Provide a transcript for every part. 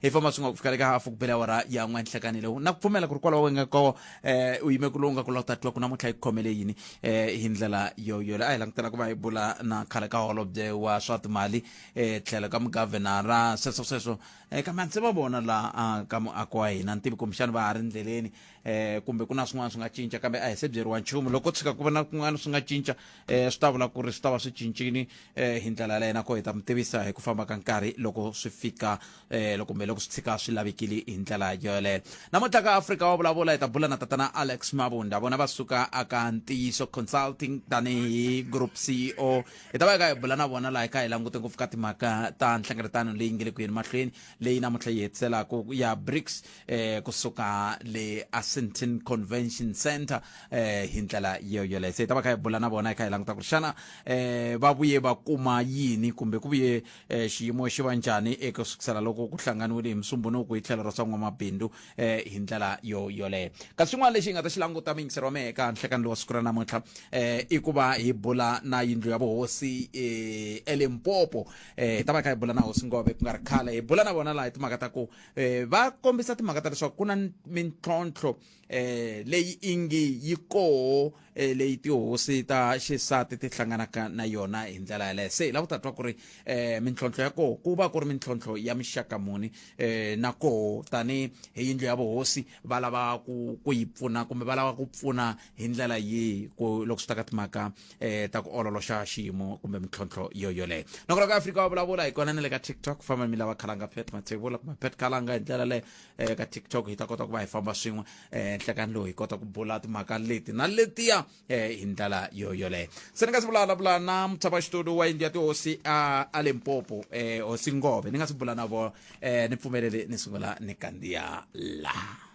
hi famba swi nga ku fika le ka hafu ku bela ora ya n'we nhlekani lewu na ku pfumela ku ri kwalaho wenge koho eh, u yime ku lowu nga ku lota twa ku namuntlha yi khomele yini eh, hi ndlela yoyole a hi langutela ku va hi bula na khale ka holobye wa swa timali eh, tlhelo ka mugavhenara sweswo sweswo eh, kambe a ndzi va vona la ah, ka muako wa hina ni tivi kumbexani va ha ri ndleleni eh kumbe ku na swin'wana swi nga cinca kambe a hi se byeriwa nchumu loko tshuka ku va na kun'wana swi nga cinca eh swi ta vula ku ri swi ta va swi cincini eh hi ndlela yaleyo nakona hi ta mi tivisa hi ku famba ka nkarhi loko swi fika eh loko kumbe loko swi tshika swi lavekile hi ndlela yoleyo namuntlha ka afrika wa vulavula hi ta bula na tatana alex mabunda vona va suka aka ntiyiso consulting tanihi group ceo hi ta va hi ka hi bula na vona laha hi ka hi langute ngopfu ka timhaka ta nhlengeletano leyi nge le ku yeni mahlweni leyi namuntlha yi hetiselaka ya brics eh kusuka le Assenton Convention Center eh hi ndlela yo yoleyo se hi ta va kha hi bula na vona hi kha hi languta ku ri xana eh va vuye va kuma yini kumbe ku vuye eh, xiyimo xi va njhani eka sukusela loko ku hlanganiwile hi musumbunuku hi tlhelo ra swa n'wamabindzu eh hi ndlela yo yoleyo kasi swin'wana lexi hi nga ta xi languta muyingiseri wa mehe eka nhlekani lowa siku ra namuntlha eh i ku va hi bula na yindlu ya vuhosi eh elimpopo eh hi ta va hi kha hi bula na hosi ngove ku nga ri khale hi bula na vona laha hi timhaka ta ku eh va kombisa timhaka ta leswaku ku na mintlhontlho eh leyi ingi yi koho eh, leyi tihosi ta xisati ti hlanganaka na yona hi ndlela yaleyo se hi lava ku ta twa ku ri eh mintlhontlho ya koho ku va ku ri mintlhontlho ya mixaka muni eh na koho tani hi yindlu ya vuhosi va lava ku ku yi pfuna kumbe va lava ku pfuna hi ndlela yihi ku loko swi ta ka timhaka eh ta ku ololoxa xiyimo kumbe mintlhontlho yo yoleyo loko loko afrika wa vulavula hi kona ni le ka tiktok ku famba mi lava khalanga pet matsevula kumbe pet khalanga hi ndlela leyo eh ka tiktok hi ta kota ku va hi famba swin'we eh nhlekani lowu hi kota ku bula timhaka leti na letiya eh hi ndlela yo yoleyo se ni nga si vulavula na mutshama xitulu wa yindlu ya tihosi a a limpopo eh hosi ngove ni nga si bula na vona eh ni pfumelele ni sungula ni kandziya laha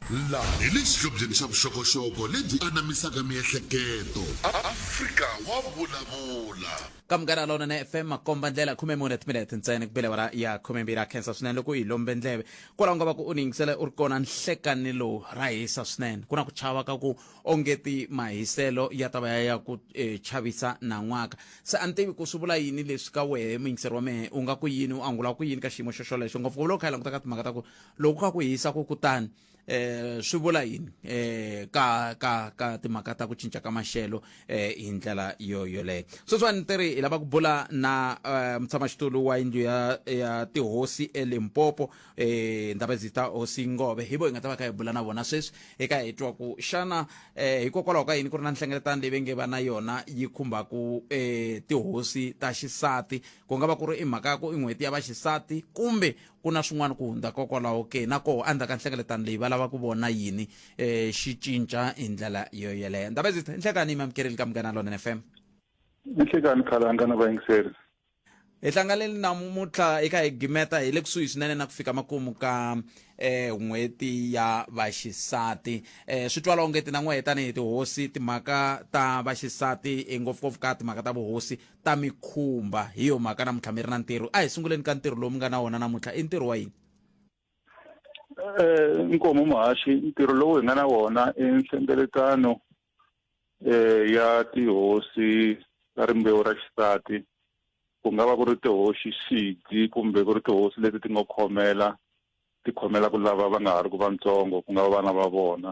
Laha hi le xihlobyeni xa vuxokoxoko lebyi anamisaka miehleketo. Afrika wa vulavula! Ka Munghana Lonene FM, makomba-ndlela khume mune timinete ntsena ku bele awara ya khume mbirhi. Ha khensa swinene loko u hi lombe ndleve. Kwalaho nga va ku u ni yingisele u ri kona nhlekanini lowu. Ra hisa swinene. Ku na ku chava ka ku ongeti mahiselo ya ta va ya ya ku chavisa nan'waka. Se a ni tivi ku swi vula yini leswi ka wehe muyingiseri wa mehe. U nga ku yini, u angula ku yini ka xiyimo xoxolexo, ngopfungopfu loko hi kha hi languta ka timhaka ta ku loko ka ku hisa ku kutani eh swi vula yini eh ka ka ka timhaka ta ku cinca ka maxelo eh hi ndlela yo yoleyo sweswiwani ti ri hi lava ku bula na eh, mutshamaxitulu wa yindlu ya ya tihosi elimpopo eh ndaba ndzi ta hosi ngove hi vo hi nga ta va ka hi bula na vona sweswi eka hi twa ku xana eh hikokwalaho ka yini ku ri na nhlengeletano leyi va nge va na yona yi khumbaku eh tihosi ta xisati ku nga va ku ri i mhaka ya ku i n'hweti ya vaxisati kumbe Ku na swin'wana ku hundza kokwalaho ke? Na koho, endzhaku ka nhlengeletano leyi, va lava ku vona yini e, xi cinca hi ndlela yo yeleyo? Ndabezitha, nhlekanhi mi amukerile ka Munghana Lonene FM. Nhlekanhi Khalanga na vayingiseri. Hi hlanganile namuntlha hi kha hi gimeta hi le kusuhi swinene na ku fika makumu ka eh, n'hweti ya vaxisati eh, swi twala onge tinan'wehe tanihi tihosi timhaka ta vaxisati eh, ngopfungopfu ka timhaka ta vuhosi ta mi khumba hi yo mhaka namuntlha mi ri na ntirho a hi sunguleni ka ntirho lowu mi nga na wona namuntlha i ntirho wa yini um nkomo muhaxi ntirho lowu hi nga na wona i nhlengeletano um ya tihosi ta rimbewu ra xisati ku nga va ku ri tihosi xidzi kumbe ku ri tihosi leti ti nga khomela ti khomela ku lava va nga ha ri ku vantsongo ku nga va vana va vona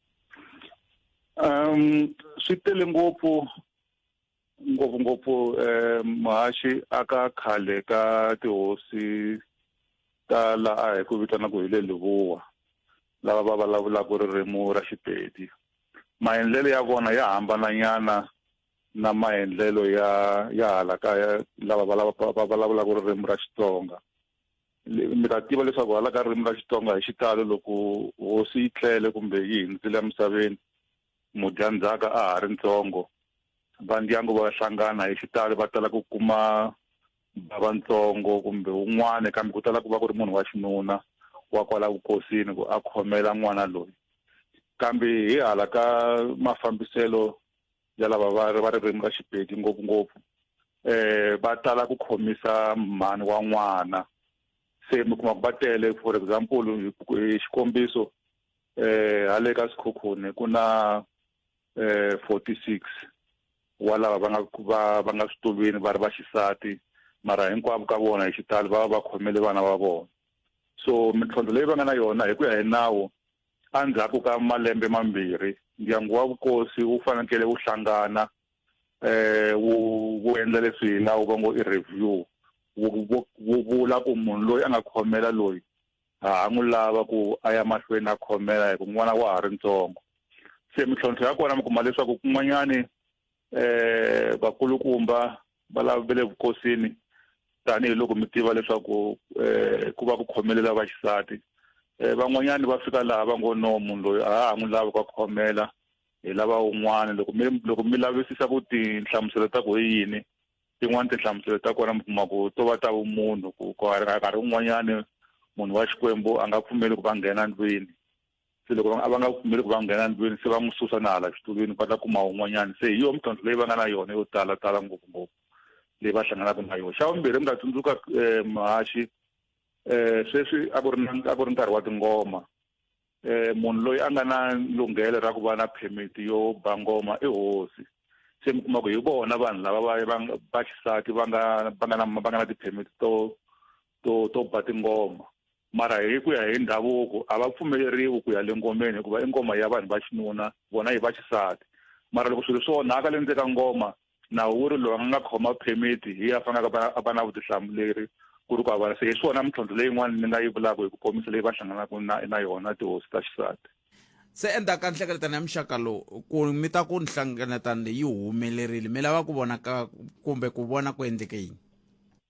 um swi tele ngopfu ngopfungopfu um muhaxi aka khale ka tihosi ta laha hi ku vitanaka hi le lihuwa lava va vulavulaka ririmi ra xipedi maendlelo ya vona ya hambananyana na maendlelo ya ya hala kaya lava va vulavulaka ririmi ra xitsonga mi ta tiva leswaku hala ka ririmi ra xitsonga hi xitalo loko hosi yi tlele kumbe yi hindzile emisaveni mudyandzhaka a ha ri ntsongo va ndyangu va hlangana hi xitalo va tala ku kuma bava ntsongo kumbe wun'wana kambe ku tala ku va ku ri munhu wa xinuna wa kwala vukosini ku a khomela n'wana loyi kambe hi hala ka mafambiselo ya lava va va ririmi ra Xipedi ngopfungopfu eh va tala ku khomisa mhani wa n'wana se mi kuma ku va tele for example hi xikombiso eh hale ka sikhokhoni ku na eh 46 wa lava va nga va va nga switulwini va ri va xisati mara hinkwavo ka vona hi xitalo va va va khomele vana va vona so mintlhontlho leyi va nga na yona hi ku ya hi nawu Endzhaku ka malembe mambirhi, ndyangu wa vukosi wu fanekele wu hlangana eh, wu wu endla leswi hi nawu va ngo i review wu vula ku munhu loyi a nga khomela loyi ha n'wi lava ku a ya mahlweni a khomela hi ku n'wana wa ha ri ntsongo se mintlhontlho ya kona mi kuma leswaku kun'wanyani eh vakulukumba va lavele vukosini tanihiloko mi tiva leswaku eh ku va ku khomelela vaxisati eh van'wanyana va fika laha va ngo no munhu loyi a ha n'wi lavi ka khomela hi lava un'wana loko mi loko mi lavisisa ku tinhlamuselo ta ku hi yini tin'wana tinhlamuselo ta kona mi kuma ku to va ta vumunhu ku nkarhi wun'wanyana munhu wa xikwembu a nga pfumeli ku va nghena ndlwini se loko a va nga pfumeli ku va nghena ndlwini se va n'wi susa na hala xitulwini va ta kuma un'wanyana se hi yona mintlhontlho leyi va nga na yona yo tala tala ngopfungopfu leyi va hlanganaka na yona xa vumbirhi mi nga tsundzuka um mahaxi um sweswi a ku ri na a ku ri nkarhi wa tingoma um munhu loyi a nga na lunghelo ra ku va na permit yo ba ngoma i hosi se mi kuma ku hi vona vanhu lava va va va xisati va nga va nga na va nga na ti-permit to to to ba tingoma mara hi ku ya hi ndhavuko a va pfumeleriwi ku ya le ngomeni hikuva i ngoma ya vanhu va xinuna vona hi va xisati mara loko swilo swo onhaka le ndzeni ka ngoma nawu wu ri loyi a nga khoma permit hi ya faneleke a va na vutihlamuleri ku ri ku avala se hi swona mintlhontlho leyin'wana ni nga yi vulaka hi ku komisa leyi va hlanganaka na na yona tihosi ta xisati se endzhaku ka nhlengeletano ya muxaka lowu ku mi ta ku nhlengeletano leyi yi humelerile mi lava ku vona ka kumbe ku vona ku endleke yini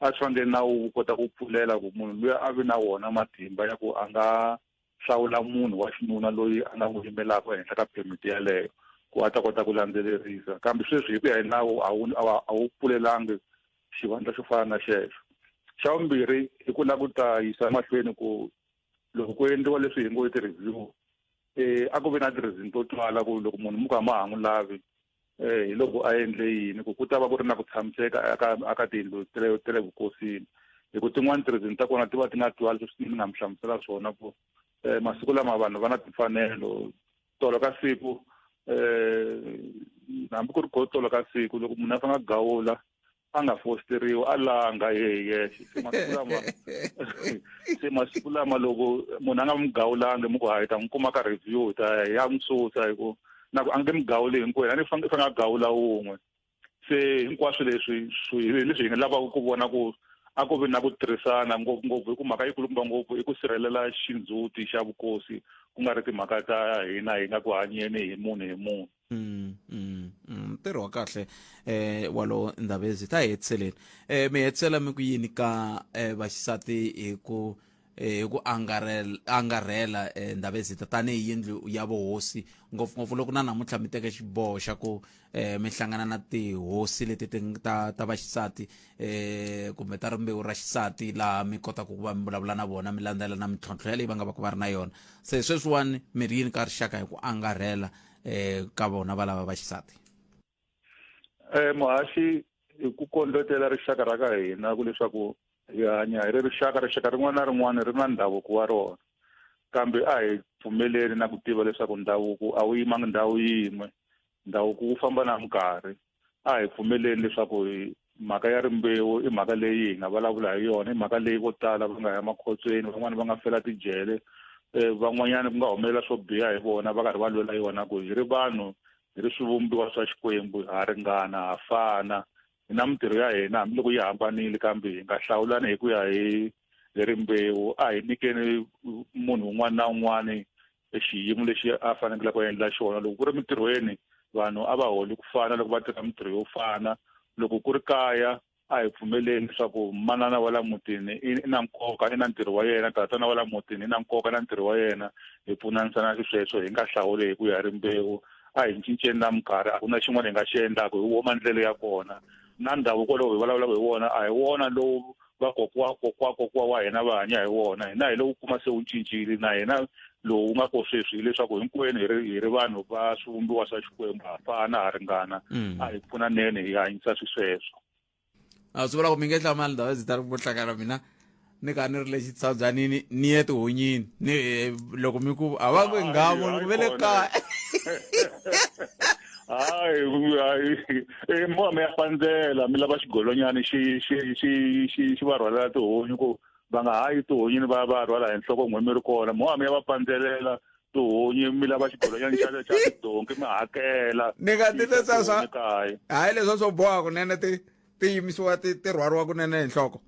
a swi fanele nawu wu kota ku pfulela ku munhu loyi a vi na wona matimba ya ku a nga hlawula munhu wa xinuna loyi a nga n'wi yimelaka ehenhla ka phemiti yeleyo ku a ta kota ku landzelerisa kambe sweswi hi ku ya hi nawu a wu a wu pfulelangi xivandla xo fana na xexo xa vumbirhi i ku lava ku ta yisa emahlweni ku loko ku endliwa leswi hi ngo i ti-review um a ku vi na ti-reason to twala ku loko munhu mi ku a ma ha n'wi lavi eh, hi loko a endle yini ku ku ta va ku ri na ku tshamiseka aka aka tiyindlu ta le ta le vukosini hi ku tin'wani tirizini ta kona ti va ti nga twali leswi ni nga mi hlamusela swona ku um masiku lama vanhu va na timfanelo tolo ka siku um hambi ku ri go tolo ka siku loko munhu a fanga gawula a nga fosteriwi a langa ye hi yexe se masiku lama se masiku lama loko munhu a nga mi gawulangi mi ku hayi ta n'wi kuma ka review ta ya n'wi susa hi ku na ku a nge mi gawuli hinkwenu a ni fanele fanele a gawula wun'we se hinkwaswo leswi hi leswi hi nga lavaka ku vona ku a ku vi na ku tirhisana ngopfungopfu hi ku mhaka yikulukumba ngopfu i ku sirhelela xindzhuti xa vukosi ku nga ri timhaka ta hina hi nga ku hanyeni hi munhu hi munhu Mm, mm, mm. ntirho wa kahle eh walowo ndhavezi ta hetiseleni eh mi hetisela mi ku yini ka eh vaxisati hi ku eh, hi ku angarhela angarhela eh ndhavezi ta tanihi yindlu ya vuhosi ngopfungopfu loko na namuntlha mi teke xiboho xa ku eh mi hlangana na tihosi leti ti ng- ta ta vaxisati eh kumbe ta rimbewu ra xisati laha mi kotaka ku va mi vulavula na vona mi landzela na mintlhontlho yaleyi va nga va ku va ri na yona se sweswiwani mi ri yini ka rixaka hi ku angarhela eh ka vona va lava va xisati eh muhaxi hi ku kondletela rixaka ra ka hina ku leswaku hi hanya hi ri rixaka rixaka rin'wana na rin'wana ri na ndhavuko wa rona kambe a hi pfumeleli na ku tiva leswaku ndhavuko a wu yimangi ndhawu yin'we ndhavuko wu famba na minkarhi a hi pfumeleli leswaku mhaka ya rimbewu i mhaka leyi hi nga vulavula hi yona i mhaka leyi vo tala va nga ya makhotsweni van'wani va nga fela tijele um van'wanyana ku nga humelela swo biha hi vona va karhi va lwela yona ku hi ri vanhu hi ri swivumbiwa swa xikwembu ha ringana ha fana hi na mintirho ya hina hambiloko yi hambanile kambe hi nga hlawulani hi ku ya hi hi rimbewu a hi nyikeni munhu un'wana na un'wana e xiyimo lexi a fanekelaka a endla xona loko ku ri mintirhweni vanhu a va holi ku fana loko va tirha mintirho yo fana loko ku ri kaya a hi pfumeleni leswaku manana wa la mutini i na nkoka i na ntirho wa yena tatana wa la mutini i na nkoka na ntirho wa yena hi pfunanisana xisweswo hi nga hlawuli hi ku ya rimbewu a hi cinceni na minkarhi a ku na xin'wana hi nga xi endlaka hi wo mandlelo ya kona na ndhavuko lowu hi vulavulaka hi wona a hi wona lowu vakokwa kokwa kokwa wa hina va hanya hi wona hina hi lowu kuma se wu cincile na hina lowu nga ko sweswi hileswaku hinkwenu hi ri hi ri vanhu va swivumbiwa swa xikwembu ha fana ha ringana a hi pfunaneni hi hanyisa swisweswo a swi vula ku mi nge hlamali ndhawu ndzi ta ri vuhlakana mina ni ka ni ri le xitsabyanini ni ye tihonyini ni loko mi ku a va ku nghamu ni ku ve le kaya hayi hayi i eh, mo mi ya pandzela mi lava xigolonyana xi xi xi xi xi va rhwalela tihunyi ku va nga hayi tihonyini va va rhwala hi nhloko n'we mi ri kona mo mi ya va pandzelela tihunyi mi lava xigolonyana xa xa tidonki mi hakela ni nga ti leswa swa hayi leswa swo boha kunene ti ti yimisiwa ti ti rhwariwa kunene hi nhloko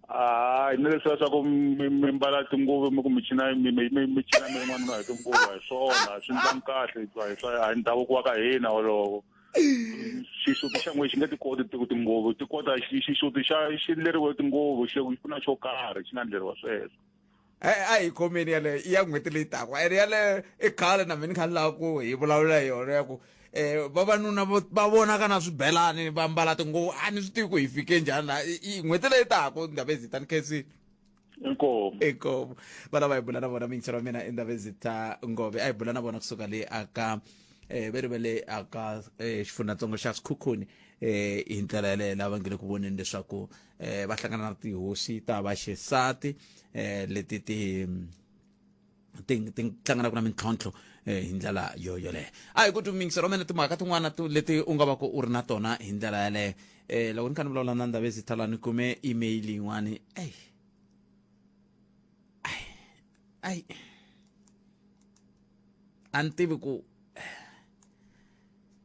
hayi ni leswiya swa ku mi mi mbala tinguvu mi ku mi china mi mi mi mi china mi ri n'wanuna hi tinguvu a hi swona swi ndlanga kahle hikuva hi swa a hi ndhavuko wa ka hina wolowo xisuti xa n'we xi nge ti koti ti- tinguvu ti kota xi- xisuti xa xi ndleriwe tinguvu xi ku na xo karhi xi nga ndleriwa sweswo a hi khomeni yaleyo i ya n'hweti leyi taka ene yaleyo i khale na mina ni kha ni lava ku hi vulavula hi yona ya ku um vavanuna va vonaka na swibelani va mbala tinguvu a ni swi tivi ku hi fike njhani laha n'hweti leyi taka ndhava ezita ni khensile inkomo inkomo vana va hi bula na vona minchero wa mina i ndhava ezita ngove a hi bula na vona kusuka le aka eh veri va le aka eh, xifundzantsongo xa sikhukhuni eh hi ndlela yaleyo lava nge le ku voneni leswaku eh, va hlangana na tihosi ta vaxisati eh, leti ti ti ti hlanganaka na mintlhontlho eh, hi ndlela yo yoleyo a hi ku tumingisa romene timhaka tin'wana tu- leti u nga va ku u ri na tona hi ndlela yaleyo um loko ni kha ni vulavula na ndavezi thala ni kume email yin'wani eyi ayi ayi a ni tivi ku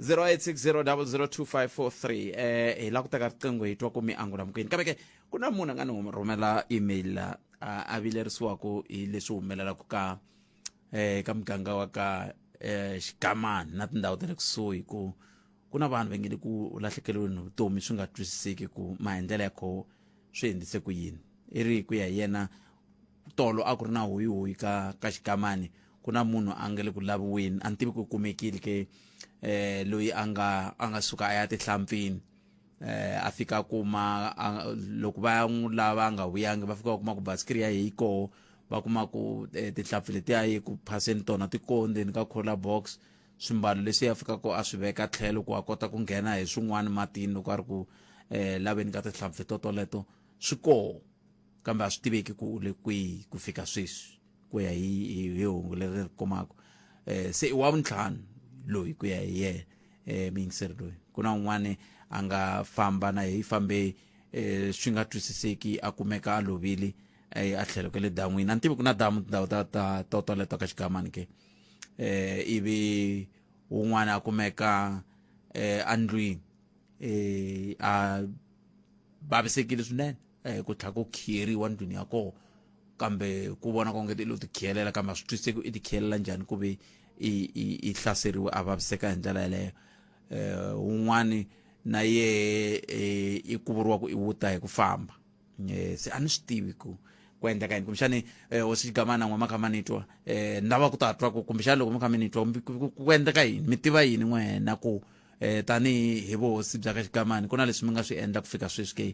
0860002543 eh hi la ku teka riqingho hi twa ku mi angula mukini kambe ke ku na munhu a nga ni hum- rhumela email la a a vilerisiwaku hi leswi humelelaku ka eh ka muganga wa ka eh xigamani na tindhawu ta le kusuhi ku ku na vanhu va nge le ku lahlekeriweni hi vutomi swi nga twisiseki ku maendlelo ya koho swi endlise ku yini i ri ku ya hi yena tolo a ku ri na huyihuyi ka ka xigamani ku na munhu a nga le ku laviweni a ni tivi ku kumekile ke eh loyi a nga a nga suka a ya tihlampfini eh a fika kuma loko va n'wi lava nga vuyangi va fika kuma ku basikiri ya yeyi koho va kuma ku eh, tihlampfi letiya yi ku phaseni tona ti koho ndzeni ka cola box swimbalo leswi ya fika ko a swi veka tlhelo ku a kota ku nghena hi swin'wana matini loko a ri ku eh laveni ka tihlampfi totoleto swi koho kambe a swi tiveki ku u le kwihi ku fika sweswi ku ya hi hi hungu leri ri kumaka um se i wa vuntlhanu loyi ku ya hi yena um miyingiseri loyi ku na un'wana a nga famba na hi fambe um swi nga twisiseki a kumeka a lovile eh, a tlhelo ka le dan'wini a ni tivi ku na damu tindhawu ta ta to toleto ka xigamani ke um ivi wun'wana a kumeka um andlwini um a vavisekile swinene eh, ku tlha ku khiyeriwa ndlwini ya koho kambe ku vona konge ti lo ti khiyelela kambe a swi twisise ku i ti khiyelela njhani ku ve i hlaseriwe a vaviseka hi ndlela yeleyo um un'wani na ye eh, i kuvuriwa ku i wuta hi ku famba eh, se a ni swi tivi ku ku endleka yini kumbexani eh, hosi xigamana n'we ma kha ma ni twa um ni lava ku ta twa ku kumbexani loko mi kha mi ni twa ku endleka yini mi tiva yini n'wena ku eh tanihi hi vuhosi bya ka xikamani ku na leswi mi nga swi endla ku fika sweswi ke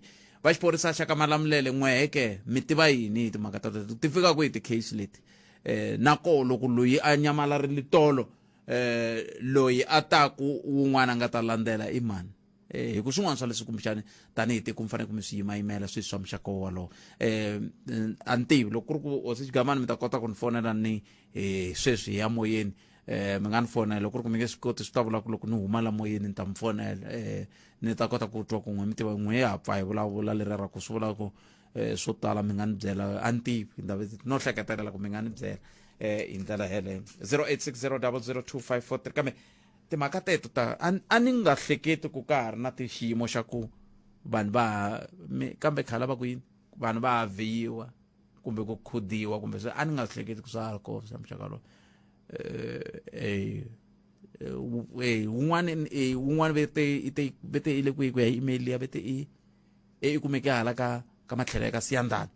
va xiphorisa xa ka malamulele n'weheke mi tiva yini hi timhaka ta teto ti fika ku hi ti-case leti eh nako loko loyi a nyamalarile tolo eh loyi a taku wun'wana a nga ta landzela i mani eh hi ku swin'wana swa leswi kumbexani tanihi tiko mi fanele ku mi swi yimayimela sweswi swa muxaka wolowo eh a ni tivi loko ku ri ku hosi xigamani mi ta kota ku ni fonela ni hi sweswi hi ya moyeni eh mi nga ni fonela loko ku ri ku mi nge swi koti swi ta vula ku loko ni huma la moyeni ni ta mi fonela eh ni ta kota ku twa ku n'we mi tiva n'we ya pfa hi vulavula leri ra ku swi vula ku eh swo tala mi nga ni byela a ni tivi ndave no hleketelela ku mi nga ni byela eh hi ndlela yeleyo 0860002543 kambe timhaka teto ta a ni nga hleketi ku ka ha ri na xiyimo xa ku vanhu va kambe khala va ku yini vanhu va haviwa kumbe ku khudiwa kumbe swi a ni nga swi hleketi ku swa ha ri kona swa muxaka lowu wun'wana wun'wana vete ite vete ile kwihi ku ya hi email liya vete i i kumeke hala ka ka matlhelo ya ka siyandana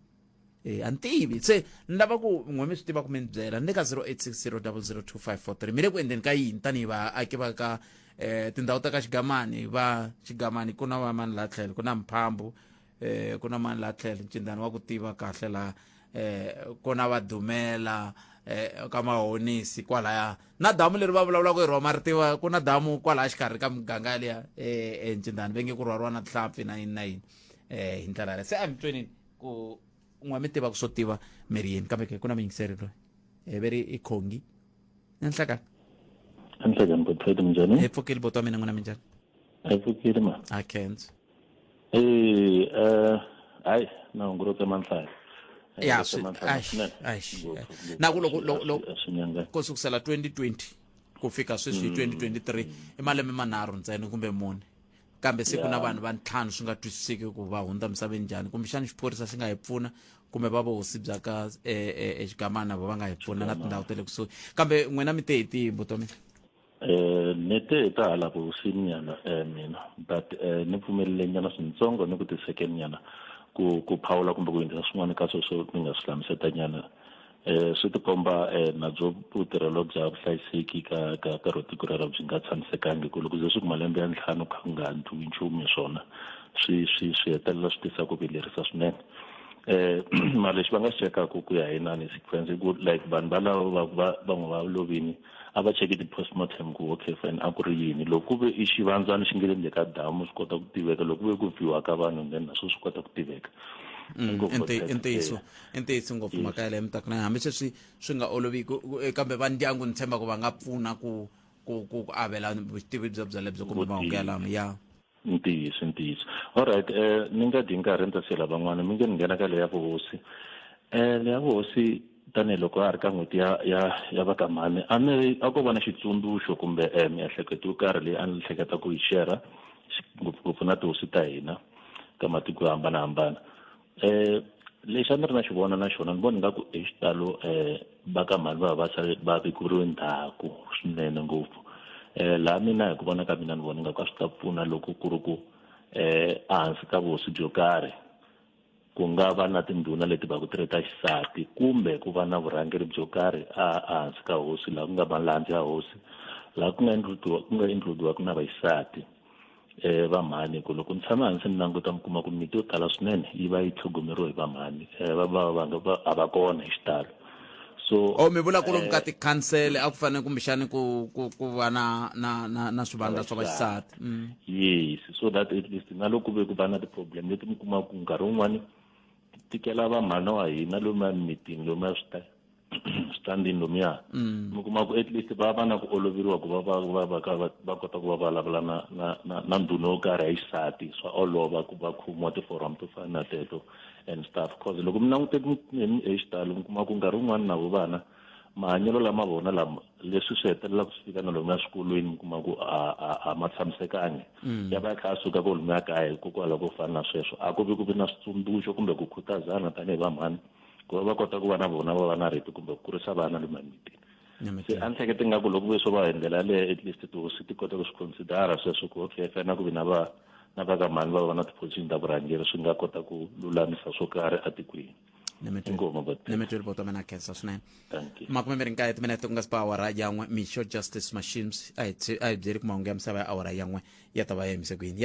eh a ni tivi se ni lava ku n'we mi swi tiva ku mi ni byela ni le ka 0860002543 mi le ku endleni ka yini tanihi vaaki va ka um tindhawu ta ka xigamani va xigamani ku na va mani laha tlhelo ku na mphambu eh ku na mani la tlhela ncindani wa ku tiva kahle la eh ku na va dumela eh ka mahonisi kwalaya na damu leri va vulavulaka hi roma ri tiva ku na damu kwalaya xikarhi ka miganga liya eh ncindani ve nge ku rhwariwa na tihlampfi na yini na yini eh hi ndlela yaleyo se a mi twenini ku n'wa mi tiva ku swo tiva miri yini kambe ke ku na muyingiseri loyi eh ve ri i khongi nanhlakani anhlekani botfeti minjani hi pfukile boti wa mina n'wina minjani a yi pfukile ma a kenzo Eh eh hayi na ngoro tse manhlaya. Eh, ya swi na ku loko ko sukusela 2020 ku fika sweswi 2023 mm. i malembe manharhu ntsena kumbe mune kambe se ku na vanhu va ntlhanu swi nga twisiseki ku va hundza misaveni njhani kumbexani xiphorisa xi nga hi pfuna kumbe va vuhosi bya ka exigamana eh, eh, va va nga hi pfuna na tindhawu ta le kusuhi kambe n'wina mi te hi tihi vutomi Eh, ni te hi ta hala vuhosini nyana eh, mina but eh, ni pfumelele nyana swintsongo ni ku ti-second nyana ku ku phawula kumbe ku yingisa swin'wana ka sweswo ni nga swi hlamuseta nyana eh, swi tikomba eh, na byo vutirhelo bya vuhlayiseki ka ka ka ro tiko rero byi nga tshamisekangi ku loko ze swi ku malembe ya ntlhanu kha ku nga ndliwi nchumu hi swona swi swi swi hetelela swi tisa ku vilerisa swinene eh mara lexi va nga xi chekaka ku ya hi nani sequence ku like vanhu valavo va va van'we va lovini a va cheke ti-postmortem ku okay fine a ku ri yini loko ku ve i xivandzana xi nge le ndzeni ka damu swi kota ku tiveka loko ku ve ku biwa ka vanhu then naswo swi kota ku tiveka Mm, i ntiyiso i ntiyiso ngopfu mhaka yaleyo mi ta ku na hambi sweswi swi nga olovi eh, kambe va ndyangu ni tshemba ku va nga pfuna ku ku ku avela vutivi bya byalebyo kumbe mahungu yalamo ya ntiyiso ntiyiso alright eh ni nga dyi nkarhi ni ta siyela van'wana mi nge ni nghena ka leya vuhosi eh leya vuhosi tanihiloko a ri ka n'hweti ya ya ya va ka mhani a ni ri a ko va na xitsundzuxo kumbe eh miehleketo yo karhi leyi a ni hleketa ku yi shera ngopfungopfu na tihosi ta hina ta matiko yo hambanahambana Eh, lexi a ni ri na xi vona na xona ni vona nga ku hi xitalo um va ka mhani va va va sale va vekuriwe ndzhaku swinene ngopfu um laha mina hi ku vona ka mina ni vona nga ku a swi ta pfuna loko ku ri ku um ehansi ka vuhosi byo karhi ku nga va na tindhuna leti va ku ti ri ta xisati kumbe ku va na vurhangeri byo karhi a ehansi ka hosi laha ku nga malandza ya hosi laha ku nga ku nga includiwaka na vaxisati Eh, vamhani ku loko ni tshama hansi ni languta mi kuma ku miti yo tala swinene yi va yi tlhogomeriwe hi vamhani eh, va va va nga va a va kona hi xitalo so o mi vula ku lomu ka eh, tikhansele a ku fanele kumbexani ku ku ku va na na na na swivandla swa vaxisati mm. yes so that at least na loko ve ku va na ti-problem leti mi kuma ku nkarhi wun'wani ti tikela vamhana wa hina lomu emimitini lomu ya swi ta standing lomuya mm. mi kuma ku at least va va na ku oloveriwa ku va va va va ka va kota ku va vulavula na na na na ndhuna yo karhi ya xisati swa olova ku va khomiwa tiforum to fana na teto and stuff cause loko mi langute hi xitalo mi kuma ku nkarhi wun'wana na vo vana mahanyelo lama vona lama leswi swi hetelela ku swi fika na lomuya swikolweni mi kuma ku a ma tshamisekangi mm. ya va ya kha a suka ko lomuya kaya hikokwalaho ko fana na sweswo a ku vi ku vi na switsundzuxo kumbe ku khutazana tanihi vamhani ku va va kota ku va na vona va va na rito kumbe ku kurisa vana le mamitini se a ni hlekete nga ku loko ve swo va hi ndlela yaleyo at least tihosi ti kota ku swi considera sweswo ku okay fana ku vi na va na va ka mhani va va na tiphozixini ta vurhangeri swi nga kota ku lulamisa swo karhi etikweni nemetweli poto mina khensa swinene makume mi ri nkaye timinete ku nga si ba awara yan'we mixo justice machines a hi byeli ku mahungu ya misava ya awara yan'we ya ta va ya yimise ku yini